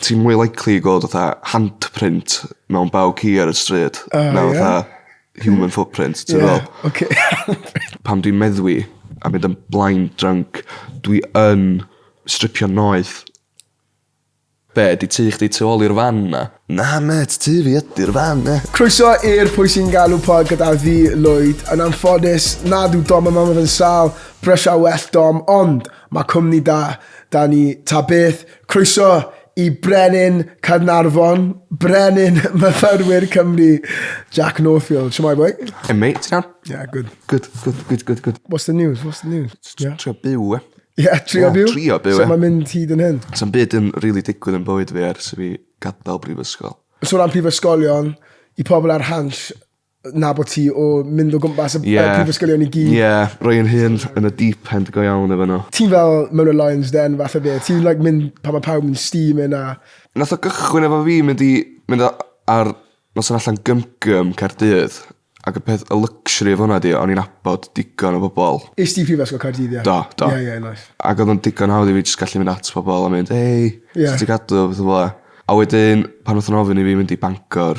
Ti'n mwy likely i gweld fatha handprint mewn baw ci ar y stryd na fatha human footprint, ti'n gwbo? Ie, oce. Pan dwi'n meddwi a mynd yn blind drunk dwi yn stripio noeth. Be, 'di tŷ chdi tu ôl i'r fan 'na? Na mêt, tŷ fi ydi'r fan 'na. Croeso i'r Pwy Sy'n Galw Pod gyda fi, Lwyd. Yn anffodus, nad yw Dom a Mam yn sâl, brysia well Dom, ond mae cwmni da 'da ni ta beth. Croeso i Brenin Caernarfon, Brenin Myfyrwyr Cymru, Jack Northfield. Siamai, boi? Hey, mate, ti'n iawn? Yeah, good. Good, good, good, good, good. What's the news? What's the news? Yeah. Trio byw, e? Ie, trio Ie, byw. trio byw, So e. mae'n mynd hyd yn hyn. Sa'n byd yn rili digwydd yn bywyd fi ers i fi gadael brifysgol. So ran prifysgolion, i pobl ar hans, nabod ti o mynd o gwmpas y... Ie. ...y prifysgolion i gyd. Ie, roi yn hun yn y deep end go iawn efo n'w. Ti'n fel mewn y Lions Den fath o beth? Ti'n like mynd pan ma' pawb yn steaming a... Nath o gychwyn efo fi mynd i mynd a- ar noson allan gym gym Caerdydd ag y peth y luxury o hwnna 'di o'n i'n nabod digon o bobol. Ist ti Prifysgol Caerdydd ie? Do do. Ie ie nice. Ag odd o'n digon hawdd i fi jyst gallu mynd at pobol a mynd hei... Ie. ...sut ti gadw a petha fel 'a. A wedyn pan nath nw'n ofyn i fi mynd i Bangor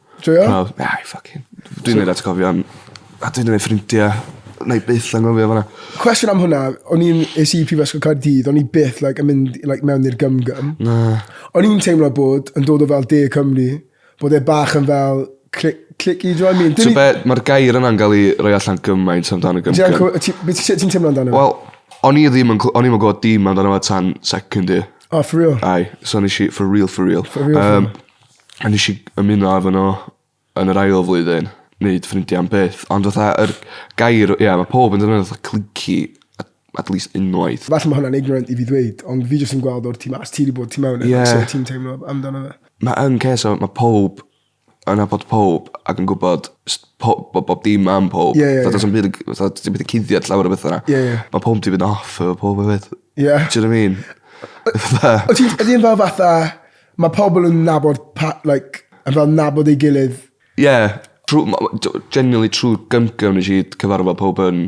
Joio? Wel, na i ffycin... Dwi'n mynd atgofion a dwi'n mynd ffrindia. Na i byth angofio fyna. Cwestiwn am hwnna, o'n i'n es i Prifysgol Caerdydd, o'n i byth like, yn mynd like, mewn i'r gymgym. Na. O'n i'n teimlo bod yn dod o fel de Cymru, bod e bach yn fel clic, clic i, do you know what I mean? Ti'n be, mae'r gair yna'n gael ei roi allan gymaint amdano gymgym. Ti'n teimlo amdano? Wel, o'n i ddim yn, o'n i'n gwybod dim amdano fe tan second year. Oh, for real? Ai, so nes i, for real, for real. For real, um, for real. A nesh i ymuno efo n'w yn yr ail flwyddyn neud ffrindia am byth ond fatha yr gair ia ma' powb yn defnyddio fatha cliquey at at least unwaith. Falle ma' hwnna'n ignorant i fi ddweud ond fi jyst yn gweld o'r tu mas ti 'di bod tu mewn e... Ie. ...so ti'n teimlo amdano fe. Ma' yn cês o ma' powb yn nabod powb ac yn gwbod jst po- bo' bob dim am powb. Ie ie ie. Fatha do's 'na'm byd yn cy- fatha t- ti methu cuddiad llawer o betha 'na. Ie ie. Ma' powb 'di mynd off efo powb efyd. Ie. T'od I mean? Fatha... Wyt ti'n ydi e'n fel fatha Mae pobl yn nabod pa- like yn fel nabod ei gilydd. Ie trw m- o d- generally trw'r gymgym nesh i cyfarfod powb yn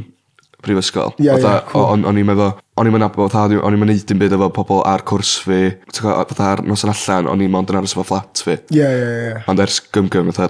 prifysgol. Ie ie cŵl. Fatha o- o'n o'n i'm efo o'n i'm yn nabo fatha o'n i o'n i'm yn neud dim byd efo pobol ar cwrs fi t'go' yy fatha'r noson allan o'n i mond yn aros efo fflat fi. Ie ie ie. Ond ers gymgym fatha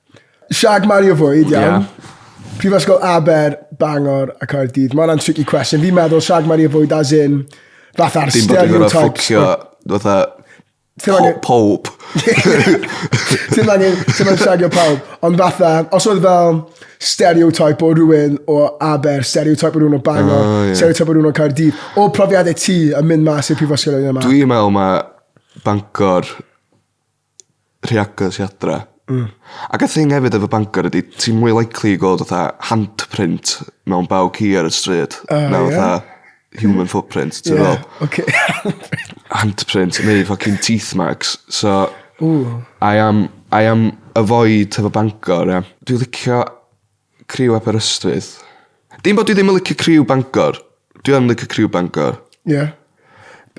Siag Mario Fwyd, iawn. Yeah. Prifysgol Aber, Bangor a Caerdydd. Mae hwnna'n tricky question. Fi'n meddwl Siag Mario Fwyd as in fatha'r stereotypes. Dim bod yn gwneud ffwcio, fatha Pob. Ti'n angen, ti'n angen siagio pawb. Ond fatha, os oedd fel stereotype o rhywun o Aber, stereotype o rhywun o Bangor, oh, yeah. stereotype o rhywun o Caerdydd, o profiadau ti yn mynd mas i'r prifysgol yma? Dwi'n meddwl mae Bangor rhy agos i adra. Hmm. Ac y thing hefyd efo Bangor ydi ti'n mwy likely i gweld fatha handprint mewn baw ci ar y stryd. O, na ie? fatha human footprint, ti'n Ie, fel? oce. handprint neu fucking teeth marks. So Ww. I am I am avoid hefo Bangor ia. Dwi licio Criw Aberystwyth. Dim bod dwi ddim yn licio criw Bangor. Dwi yn licio criw Bangor. Ie. Yeah.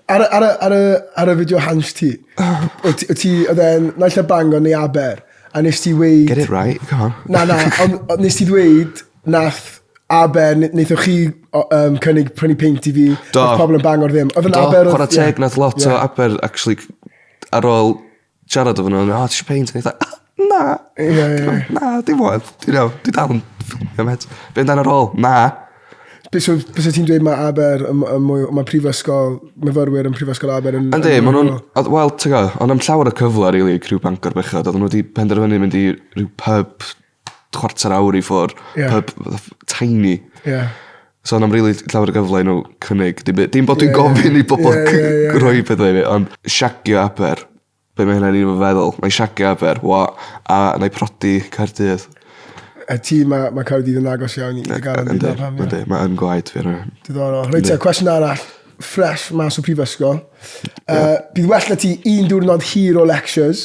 Ar y, ar y, ar y, ar y fideo hans ti, o ti, o ti, oedd e'n naill a Bangor neu Aber, a nes ti weid... Get it right, come on. Na, na, ond on, nes ti ddweud nath Aber, neithoch chi um, cynnig prynu peint i fi, Do. pobl yn Bangor ddim. Oedd yn Aber... Do, chwarae teg, nath lot yeah. o Aber, actually, ar ôl siarad efo nhw, oh, ti eisiau peint? O'n i na, na, dim ond, ti'n iawn, dwi dal yn ffilmio met. Be amdano rôl? Na. Bys ti'n dweud mae Aber, mae prifysgol, myfyrwyr yn prifysgol Aber yn... Yndi, maen nhw'n... Wel, ti'n gwybod, ond am llawer o cyfle, rili, really, criw Bangor bechod, oedden nhw wedi penderfynu mynd i rhyw pub chwarter awr i ffwr. Yeah. Pub fatha ff- tiny. Yeah. So na'm rili llawer o gyfle i nhw cynnig dim byd. Dim bod dwi'n Ie, ie. gofyn i bobl Ie, c- ie, ie, ie. rhoi pethau i mi, ond shagio aber. Be mae hynna'n un o'n feddwl? Mae shagio aber, wa, a na i prodi Caerdydd. A ti, mae ma Caerdydd yn agos iawn i dy garfan Yndi, dyna pam. ie. yndi, mae yn gwaed fi ar hynny. Diddorol. Reit, te, cwestiwn arall, ffres mas o prifysgol. Uh, bydd well na ti un diwrnod hir o lectures,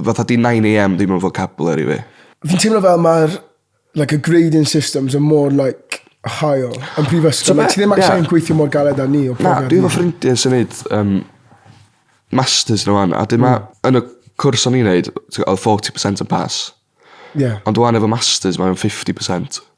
fatha 'di nine AM ddim yn vocabulary fi. Fi'n teimlo fel mae'r like, y grading systems yn mor like, hael yn prifysgol. So, like, ti ddim ac yeah. yn gweithio mor galed â ni. Na, dwi efo ffrindiau sy'n neud um, masters nhw fan, a dwi ma, mm. yn y cwrs o'n i'n neud, oedd 40% yn pass. Yeah. Ond dwi'n efo masters, mae'n 50%.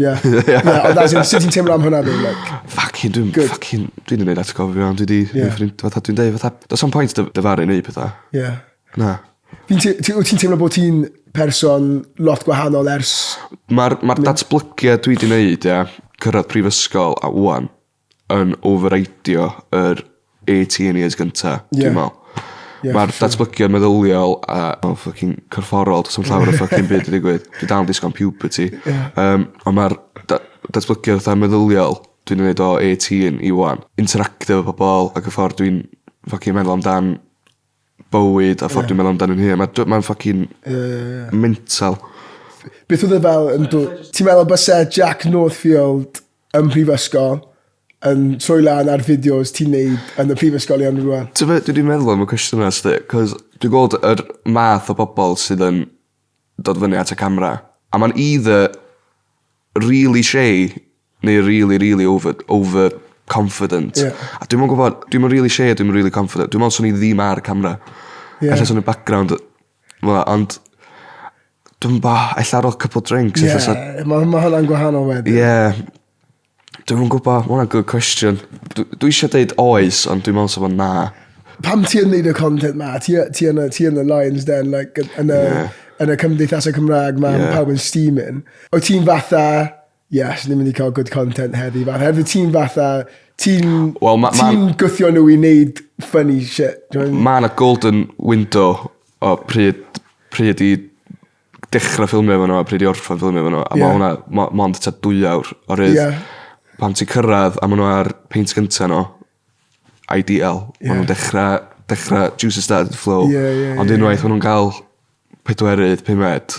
Ie. Ie. Na ond as in sut ti'n teimlo am hwnna ddo like? Ffycin dwi'm Good. ffycin dwi 'di neud atgofion dwi 'di... Ie. ...neud ffrind fatha dwi'n deud fatha do's na'm point dyf- dyfaru neu' petha. Ie. Na. Fi'n te- ti wyt ti'n teimlo bo' ti'n person lot gwahanol ers... Ma'r ma'r datblygiad dwi 'di neud ia cyrradd prifysgol a ŵan yn override-io yr AT yn years gynta Ie. dwi'n me'wl. Ie Ma'r siŵr. datblygiad meddyliol a o ffycin corfforol do's na'm llawer o ffycin byd 'di digwydd. Dwi dal yn disgo am puberty. Ie. Yym on' ma'r da- datblygiad fatha meddyliol dwi 'di neud o eighteen i ŵan. Interactio efo pobol ag y ffor dwi'n ffycin meddwl amdan bywyd a ffor dwi'n meddwl amdan 'yn hun ma' dw- ma'n ffycin... Ie ie ie ie. ...mental. Beth odd e fel yn dwy- Ti'n meddwl byse Jack Northfield ym mhrifysgol yn troi lan ar fideos ti'n neud yn y prifysgolion rŵan? T'be' dwi 'di meddwl am y cwestiwn 'na 'sdi 'c'os dwi gweld yr math o bobol sydd yn dod fyny at y camera a ma'n either rili shei neu rili rili over over confident. Ie. A dwi'm yn gwbod dwi'm yn rili shei a dwi'm yn rili confident dwi me'wl swn i ddim ar camra. Ie. Ella swn i background Na ond dw'm 'bo ella ar ol couple o drinks ella sa... Ie ma' ma' hwnna'n gwahanol wedyn. Ie. Dwi'm yn gwbo ma' wnna'n good question. Dw- dwi isio deud oes ond dwi me'wl sa fo'n na. Pam ti yn neud y content 'ma ti y- ti yn y ti yn y lion's den like yn yn y... Ie. ...yn y cymdeithase Cymrag 'ma... Ie. ...ma' pawb yn steaming. Wyt ti'n fatha Yes, ni'n mynd i cael good content heddi. Fatha, hefyd ti'n fatha, ti'n well, ma, ti ma, gwthio nhw i wneud funny shit. Mae yna golden window o pryd, pryd i dechrau ffilmio efo nhw a pryd i orffan ffilmio efo nhw. A yeah. mae hwnna mo, mond ta dwy awr o rydd. Yeah. Pan ti'n cyrraedd a maen nhw ar peint gyntaf nhw, ideal. Yeah. Maen nhw'n dechrau, dechrau juices started to flow. Yeah, yeah, Ond yeah, unwaith yeah. maen nhw'n cael pedwerydd, pumed,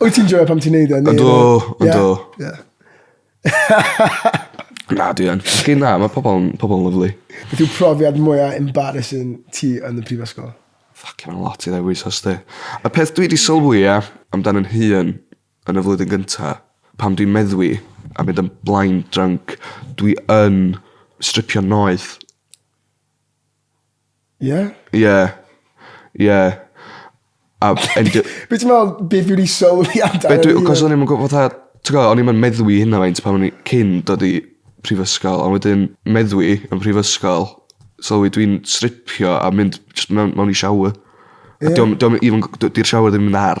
Wyt ti'n joio pam ti'n neud e? Yndw, yndw. Yeah. na, dwi yn. Chi na, mae pobl yn pobl lyflu. Beth yw profiad mwyaf embarrassing ti yn y prifysgol? Ffac, mae'n lot i ddewis os di. Y peth dwi wedi sylwi e amdan yn hun yn y flwyddyn gynta, pam dwi'n meddwi a mynd yn blaen drunk, dwi yn stripio noeth. Ie? Ie. Ie. A b- yn dy-... Be' ti me'wl beth dwi 'di sylwi amdano fi... Be' dwi 'c'os o'n i'm yn gwbo fatha t'go' o'n i'm yn meddwi hynna faint pan o'n i cyn dod i prifysgol a wedyn meddwi yn prifysgol sylwi dwi'n stripio a mynd jyst mewn mewn i shower. Ie. A 'di o'm 'di o'm even g- d- 'di'r shower ddim yn ar.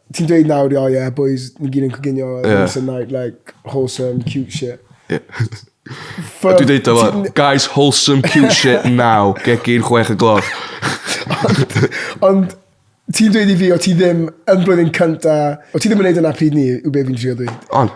Ti'n dweud nawr, oh yeah, boys, ni gyd yn coginio yeah. once a night, like, wholesome, cute shit. Yeah. From... Dwi'n deud efo, guys, wholesome, cute shit now, gegin chwech y gloch. ond, ond ti'n dweud i fi, o ti ddim yn blwyddyn cynta, o ti ddim yn neud yna pryd ni, yw be fi'n trio dweud. Ond,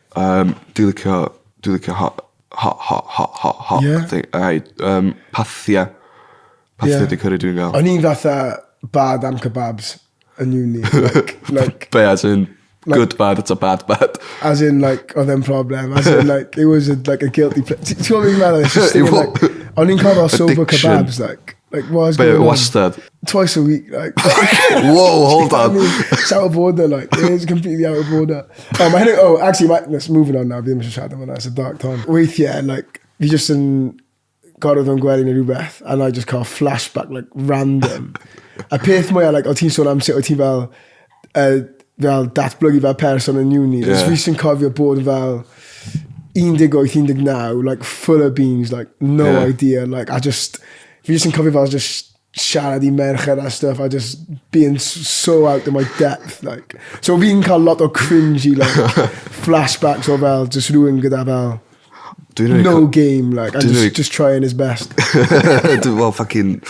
Um, dwi licio, dwi licio hot, hot, hot, hot, hot, hot. Yeah. Thing. Ai, um, pathia. Pathia yeah. di cyrru dwi'n gael. O'n i'n fatha bad am kebabs yn uni. Like, like, Be as in like, good bad, it's a bad bad. As in like, oedd e'n problem. As in like, it was a, like a guilty pleasure. Ti'n gwybod beth i'n meddwl? O'n i'n cael sober kebabs like. Like, what is going on? Wastad. Twice a week, like. Whoa, hold on. it's out of order, like. It is completely out of order. Oh, mae hynny, oh, actually, mae, let's moving on now, fi ddim eisiau siarad am hwnna, it's a dark time. Weithiau, like, fi just yn gorfod o'n gwely neu rhywbeth, and I just cael flashback, like, random. a peth mwyaf, like, o ti'n sôn am sut o ti'n fel, uh, fel datblygu fel person yn uni. Yeah. Fi sy'n cofio bod fel 18, 19, like full of beans, like no yeah. idea, like I just, fi sy'n cofio fel just siarad i merched a stuff, I just being so out of my depth, like. So fi'n cael lot o cringy, like, flashbacks o fel, just rhywun gyda fel, Dwi'n no really game, like, I'm just, really... just trying his best. well, fucking...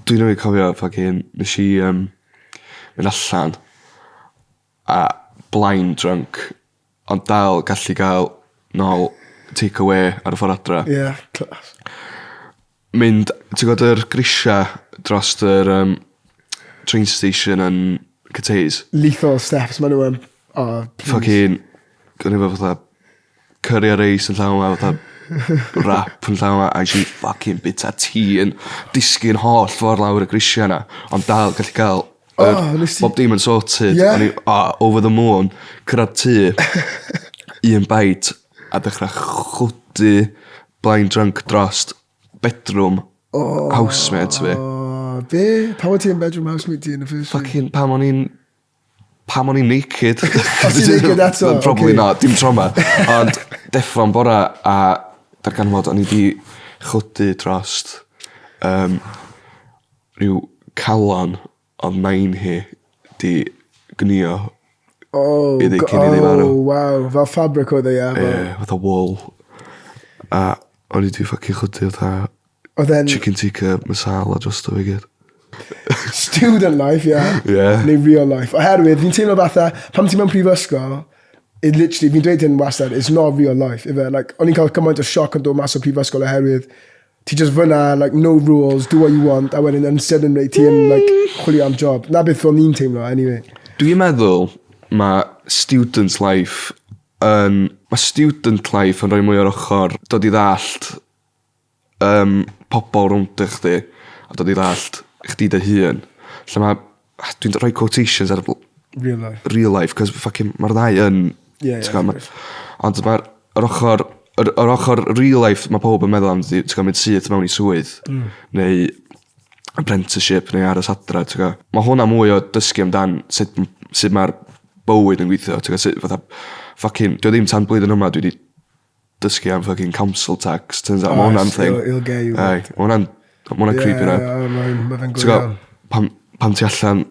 Dwi'n rhaid cofio, fucking, nes i, um, mynd allan a blaen drunk ond dal gallu gael nol take awê ar y ffor adra. Ie class. Mynd ti gwod yr grisia drost yr yym train station yn Cathays? Lethal steps ma' n'w yn. O plîs. Ffycin gawn ni fe fatha Curry a reis yn llaw a fatha wrap yn llaw a ges i ffycin bita ti yn disgyn holl ffordd lawr y grisia 'na. Ond dal gallu cael yr... O, nes ti- Bob dim yn sorted. Ie? O'n i o, over the moon. Cyrraedd tŷ. un bite a dechrau chwydu blind drunk drost bedroom housemate fi. O, be? Pam o ti yn bedroom housemate ti yn y first place? Fucking pam o'n i'n Pam o'n i'n naked? Os ti'n naked eto oce. Probably not dim tro 'ma. Ond deffro yn bora a darganfod fod o'n i 'di chwydu drost yym rhyw calon odd nain hi 'di gnïo... O go-... ...iddi cyn iddi farw. O waw fel fabric oedd e ie? Ie fatha wool. A o'n i 'di ffycin chwydu fatha Oedd e'n... Chicken tikka masala drosto fe i gyd. Student life, ie. Ie. Neu real life. Oherwydd, fi'n teimlo fatha, pam ti mewn prifysgol, it literally, fi'n dweud hyn wastad, it's not real life, ife? Like, o'n i'n cael cymaint o sioc yn dod mas o prifysgol oherwydd, ti just fyna, like, no rules, do what you want, a wedyn yn sydyn rei ti yn, like, chwilio am job. Na beth o'n i'n teimlo, anyway. Dwi'n meddwl mae student life yn... Mae student life yn rhoi mwy o'r ochr dod i ddallt yym pobol rownd a chdi a dod i ddallt chdi dy hun. Lle ma' ah dwi'n d- rhoi quotations ar y bw-... Real life. ...real life 'c'os ma' ffycin ma'r ddau yn... Ie ie. ...t'gwo' ma'... Ond ma'r yr ochor yr yr ochor real life ma' powb yn meddwl am ydi t'gwo' mynd syth mewn i swydd. Hmm. Neu apprenticeship neu aros adra t'gwo'? Ma' hwnna mwy o dysgu amdan sut m- sut ma'r bywyd yn gweithio t'gwo' sut fatha ffycin 'di o ddim tan blwyddyn yma dwi 'di dysgu am fucking council tax turns out ma' hwnna'n thing. Still he'll get you. Aye ma' hwnna'n ma' hwnna'n creepy ynde? Ie ie ie ma' fe'n go iawn. Pan pan ti allan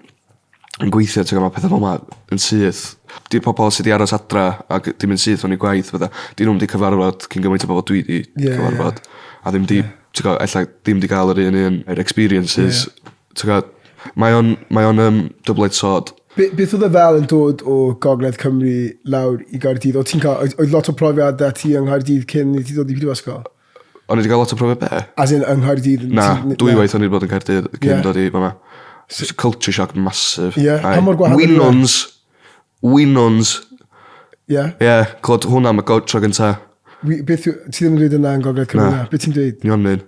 yn gweithio t'go' ma' petha fel 'ma yn syth. 'Di pobol sy 'di aros adra ag 'di mynd syth mewn i gwaith a petha 'dyn nw'm 'di cyfarfod cyn gymaint o bobol dwi 'di... Ie ie. ...cyfarfod a ddim 'di t'go' ella dim 'di ga'l yr un un yr experiences... Ie. Ti'n gwbod? Mae o'n mae o'n yym double edged sword. Be- beth oedd e fel yn dod o gogledd Cymru lawr i Gaerdydd? Oedd ti'n cael... Oedd, oedd lot o profiad da ti yng Nghaerdydd cyn i ti ddod i Prifysgol? O'n i wedi cael lot o profiad be? As in yng Nghaerdydd... Na, dwy waith o'n i wedi bod yn Caerdydd cyn yeah. dod i fyma. It's a culture shock massive. Yeah, pa mor gwahanol yw e? Winons. Winons. Yeah. Yeah, clod hwnna am y go- tro gynta. Wi- Beth yw... Ti ddim yn dweud yna yn Gogledd Cymru Na. na? Beth ti'n dweud? Nionyn.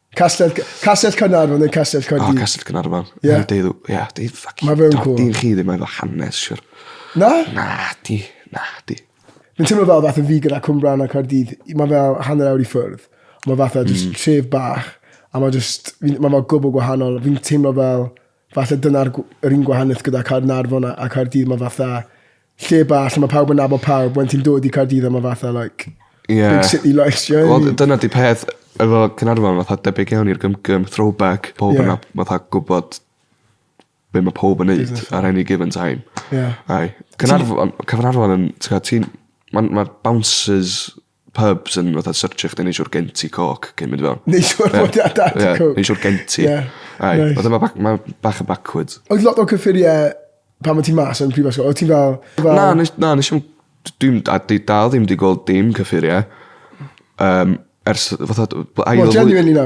Castell, Castell Cynarfon yn Castell Coed. O, Castell Cynarfon. Ie. Yeah. Deidd, ie, yeah, deidd ffac. Mae fe'n cool. Deidd chi ddim efo hanes, siwr. Na? Na, di, na, di. Fi'n teimlo fel fath o fi gyda Cwmbran a Cardydd. Mae fel hanner awr i ffwrdd. Mae fath o just mm. tref bach. A mae just, mae fel gwbl gwahanol. Fi'n teimlo fel, fath o dyna'r un gwahaniaeth gyda Caernarfon a, a Cardydd. Mae fath o, lle bach lle mae pawb yn nabod pawb, wedyn ti'n dod i Caerdydd a mae fatha like yeah. big city lights, you know? Well, dyna di peth efo Cynarfon, fatha debyg iawn i'r gymgym, throwback, pob yeah. yna fatha gwybod be mae pob yn neud ar any given time. Yeah. Ai. Cynarfon, Cyfnarfon yn, ti'n ti'n, mae ma bouncers pubs yn fatha searchio chdi neu siwr genti coc cyn mynd i fewn. Neu siwr bod ia dat yeah, coc. Neu siwr genti. Yeah. Ai, nice. fatha mae ma bach yn backwards. Oedd lot o cyffuriau pan mae ti mas yn prifysgol? Oedd ti fel... fel... Na, nes, na, nes i'n... Dwi'n dal ddim wedi gweld dim cyffuriau. Um, ers fatha... Wel, genuinely na.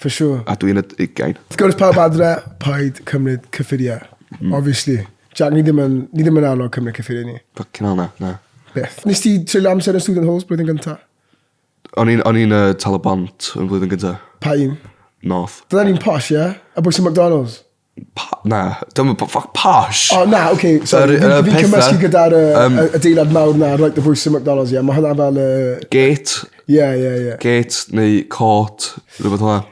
For sure. A dwi'n y ugain. Wrth gwrs pawb adre, paid cymryd cyffuriau. Mm. Obviously. Jack, ni ddim yn, ni ddim yn annog cymryd cyffuriau ni. Fucking hell na, na. Beth. Nes ti treulio amser yn Student Halls blwyddyn gyntaf? O'n i'n, o'n i'n uh, tal y bont yn flwyddyn gyntaf. Pa un? North. Dyna ni'n posh, ie? Yeah? A bwys i McDonald's? Pa- na, dim yn po- ffyc posh. O, na, oce, Yr- sorry. y Fi'n fi'n petha- cymysgu gyda'r yy, yym, y- adeilad mawr na, right, the voice yn McDonald's, ie. Mae hwnna fel y... Gate, Ie, ie, ie. gate neu court, rhywbeth hwnna.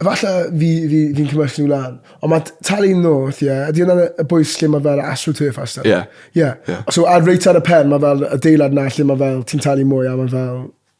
Falle fi, fi, fi'n cymysgu nhw lan. Ond mae t- talu north, ie. Ydy hwnna'n y- y bwys lle mae fel astroturf a stuff? Ie. Ie. Ie. So, ar reit ar y pen, mae fel adeilad na lle mae fel, ti'n talu mwy a mae fel...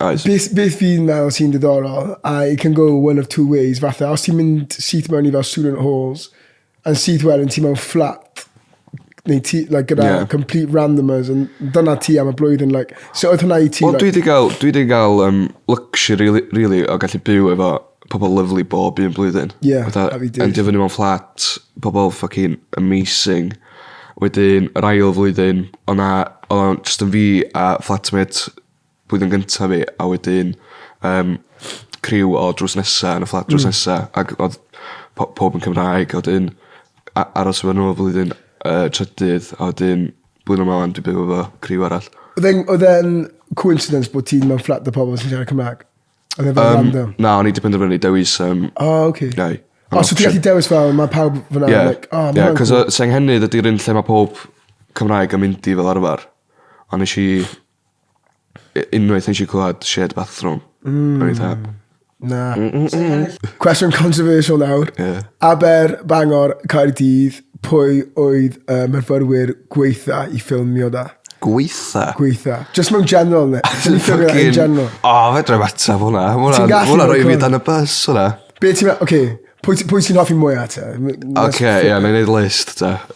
Oes. Beth beth fi'n meddwl sy'n diddorol a it can go one of two ways fatha os ti'n mynd syth mewn i fel student halls yn syth wedyn ti mewn fflat neu ti like gyda yeah. complete randomers yn dyna ti am y blwyddyn like so oedd hwnna i ti Wel like, dwi wedi cael dwi wedi cael um, luxury really, really o gallu byw efo pobl lyflu bob un blwyddyn. Yeah, Fatha, a fi dweud. Endio fyny mewn fflat, pobl ffucking amazing. Wedyn, yr ail flwyddyn, o'na, o'na just yn fi a flatmate blwyddyn gynta fi a wedyn yym criw o drws nesa yn y fflat drws nesa ag odd po- powb yn Cymraeg a wedyn a- aros efo n'w am flwyddyn yy trydydd a wedyn blwyddyn yma ŵan dwi byw efo criw arall. Oedd e'n oedd e'n coincidence bod ti'n mewn fflat o pobl sy'n siarad Cymraeg? Oedd e fel Yym, random? Na, o'n i 'di penderfynu dewis yym O, oce. Gai. O, so ti gallu dewis fel, mae pawb fyna, Ie. like, o, ma' Ie, hwnna'n cos cŵl. yy Senghennydd ydi'r un lle mae pob Cymraeg yn mynd i fel arfer. A nesh i U- unwaith nesh i clwad shared bathroom. Hmm. O'n i tha... Na. Cwestiwn controversial nawr. Ie. Aber, Bangor, Caerdydd, pwy oedd y myfyrwyr gweitha i ffilmio da? Gweitha? Gweitha. Just mewn general, ne? Ti'n ffilmio in general. O, oh, fedra i ateb hwnna. Ti'n gallu Hwna roi fi gweld? dan y bus, hwnna. Be ti'n meddwl, oce, pwy, ti- pwy ti'n hoffi mwyaf te? M- Oce, ie, na i neud list, ta.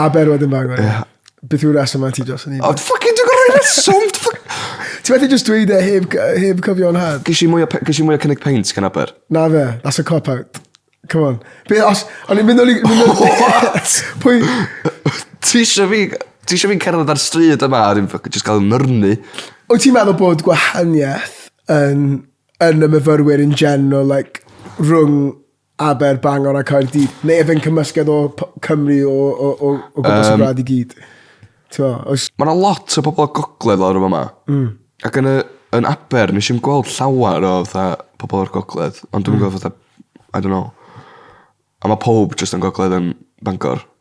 A ber wedyn bag o'n yeah. Beth yw'r reswm mae ti dros yn un? O, ffucking dwi'n gorau reswm! Ti'n methu just dweud e heb, heb cyfio'n had? Gys i mwy o cynnig peint gan aber. Na fe, that's a cop-out. Come on. Be, os, o'n i'n mynd o'n i'n... What? Pwy... Ti eisiau fi... Ti eisiau fi'n cerdded ar stryd yma a ddim just cael nyrnu. O ti'n meddwl bod gwahaniaeth yn, yn y myfyrwyr in general, like, rhwng Aber, Bangor a Caerdydd? Neu efe yn cymysgedd o Cymru o, o, o, o gwmpas um, y rad i gyd? Os... Mae yna lot o bobl o gogledd lawr yma. Mm. Ac yn, y, yn Aber, nes i'n gweld llawer o fatha, pobl o'r gogledd. Ond dwi'n mm. gweld fatha, I don't know. A mae pob just yn gogledd yn Bangor.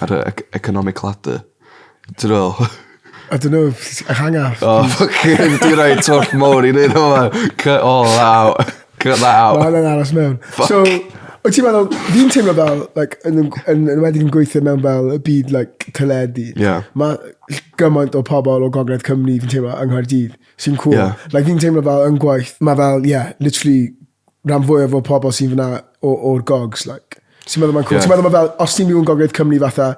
Ar y ec- economic ladder. Ti'n meddwl? I don't know, hang off. Oh, fucking, di roi twll mowr i neud hwnna. Cut all that out. Cut that Mae out. hwnna'n aros mewn. So, wyt ti'n meddwl, fi'n teimlo fel, like, yn, yn, yn, yn wedi yn gweithio mewn fel y byd, like, teledu. Ie. Mae gymaint o pobl o Gogledd Cymru, fi'n teimlo, yng Nghaerdydd, sy'n cool. Ie. Like, fi'n teimlo fel yn gwaith, mae fel, yeah, literally rhan fwyaf o pobl sy'n fyna o'r gogs, like. Ti'n meddwl mae'n cool? Yeah. Ti'n meddwl mae fel, os ti'n mynd i'n gogledd Cymru fatha,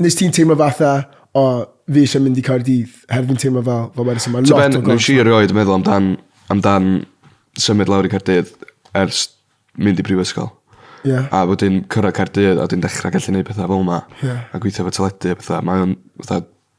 nes ti'n teimlo fatha, o, oh, fi eisiau mynd i Caerdydd, hefyd fi'n teimlo fel, fel wedys, mae lot o gogs. Nes i erioed yn meddwl amdan, amdan symud lawr i Caerdydd ers mynd i brifysgol. Yeah. A wedyn cyrra Caerdydd a wedyn dechrau gallu gwneud pethau fel yma. Yeah. A gweithio fo teledu a pethau. Mae'n fatha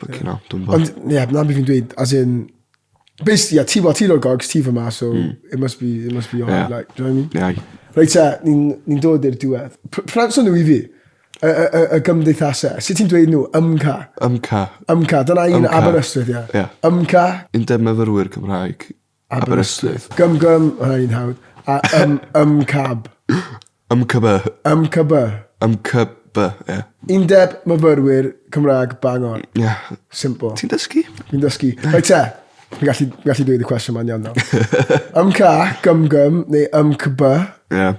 Fucking hell, dwi'n bod. Ond, ie, na beth fi'n dweud, as in, basically, yeah, ti, well, ti'n o'r gogs, ti fyma, so mm. it must be, it must be on, yeah. like, do you know what I mean? Yeah. Reit, ta, ni'n ni dod i'r diwedd. Prynso nhw i fi, y, y, y, y gymdeithasau, sut ti'n dweud nhw, ymca? Ymca. Ymca, dyna un Aberystwyth, ie. Yeah. Yeah. Ymca. Undeb myfyrwyr Cymraeg Aberystwyth. Gym gym, hwnna un hawdd. A ym, ym cab. Ym cyby. Ym cyby. Ym cyby, ie. Undeb myfyrwyr Cymraeg Bangor. Ie. Yeah. Simple. Ti'n dysgu? Ti'n dysgu. Rhaid te, Fi'n gallu, gallu dweud y cwestiwn ma'n iawn nawr. ym ca, gym gym, neu ym cyby. Ie. Yeah.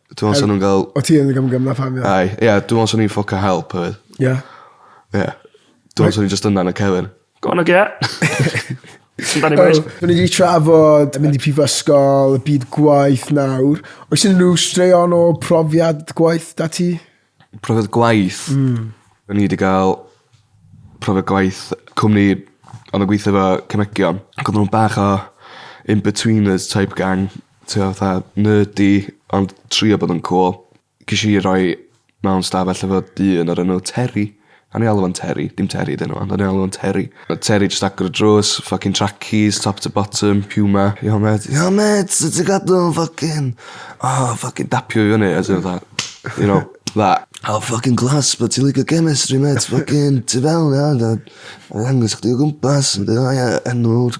Dwi'n meddwl 'sa nhw'n gael... O ti yn y gymgym na pam ia? Aye ia dwi me'wl swn i'n ffwc o help hefyd. Ia? Ia. Dwi me'wl swn i jyst yna yn y cefyn. Go on Nokia. Sut 'dan ni bois? Wel, 'dyn ni 'di trafod mynd i prifysgol, y byd gwaith nawr. Oes unrhyw straeon o profiad gwaith 'da ti? Profiad gwaith. Hmm. O'n i 'di ga'l profiad gwaith cwmni o'n i'n gweithio efo cemegion ac odden nw'n bach o in-betweeners type gang t'o' fatha nerdy ond trio bod yn cŵl. Gesh i roi mewn stafell efo dyn o'r enw Terry. O'n i'n alw fo'n Terry. Dim Terry 'di enw fo ond o'n i'n alw fo'n Terry. O'dd Terry jyst agor y drws ffycin tracies top to bottom puma. Yo mêt yo mêt sut ti gadw ffycin o ffycin dapio fi fyny a ti fatha you know tha o ffycin class be' ti'n licio chemistry mêt ffycin tu fewn ia a ddangos chdi o gwmpas a mynd â fo ia enw'r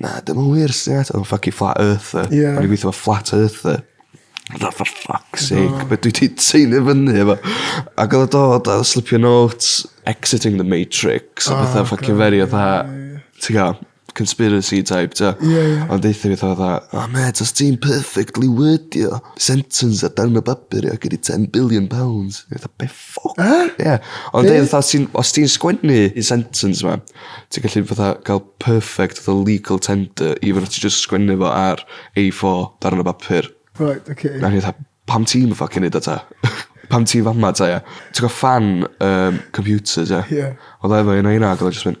Na, dim yn wir, sut ti'n ateb am fucking flat earther? Ie. O'n i'n gweithio efo flat earther. Fatha, for fuck's sake, be dwi ti teinu fyny efo? Ac oedd o dod a slipio notes, exiting the matrix, a pethau fucking very fatha, ti'n gael, conspiracy type, ti'n Ie, ie. Ond deutha fi fatha fatha, oh mate, os ti'n perfectly wordio sentence ar darn o bapur, I'll give you ten billion pounds. Fatha, be Ffwc! Yy? Ie. Ond Be'? fatha os ti'n os ti'n sgwennu un sentence 'ma ti'n gallu fatha ca'l perfect fatha legal tender even os ti jyst sgwennu fo ar a four darn o bapur. Reit oce. A o'n i fatha pam ti'm yn ffycin neud o ta? Pam ti fama ta ia? Ti gwel' ffan yym computers ia? Ie. Odd o efo un o heina ag odd o jyst myn'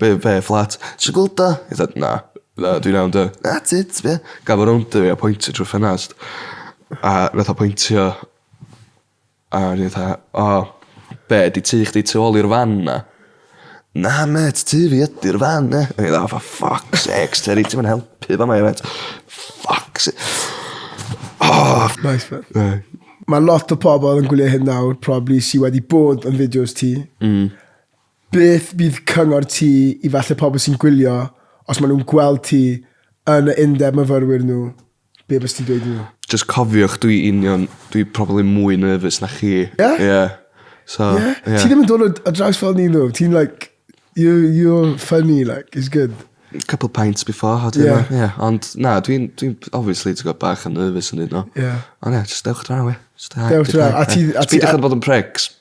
Be be fflat? Ti gweld o? I fatha na. Na dwi'n iawn dy. Na ti ti be? Gaf o rownd i fi a pointio trw'r ffenast. A nath o pointio a o'n i fatha o be' 'di tŷ chdi tu ôl i'r fan 'na? Na mêt tŷ fi ydi'r fan 'ne. O'n i fatha o for fuck sakes Teri ti'm yn helpu fa' 'ma mêt. Fuck sa- O! Nice man. Ie. Ma' lot o pobol yn gwylio hyn nawr probably sy wedi bod yn fideos ti. Hmm. Beth fydd cyngor ti i falle pobl sy'n gwylio os maen nhw'n gweld ti yn y undeb myfyrwyr nhw, be fysa ti'n dweud i nhw? Jyst cofiwch dwi union dwi probably mwy nervous na chi. Ie? Ie. So, ie. Yeah? Yeah. Ti ddim yn dod o d- o draws fel ni nhw. Ti'n like you you're funny like it's good. Couple pints before how do you Ie. know? Ie, ond na dwi'n dwi'n obviously ti'n gwbod bach yn nervous yn neud o. Ie. Ond ie, jyst dewch draw ie. Jyst dewch draw. A ti- a ti- Peidiwch â bod yn pricks.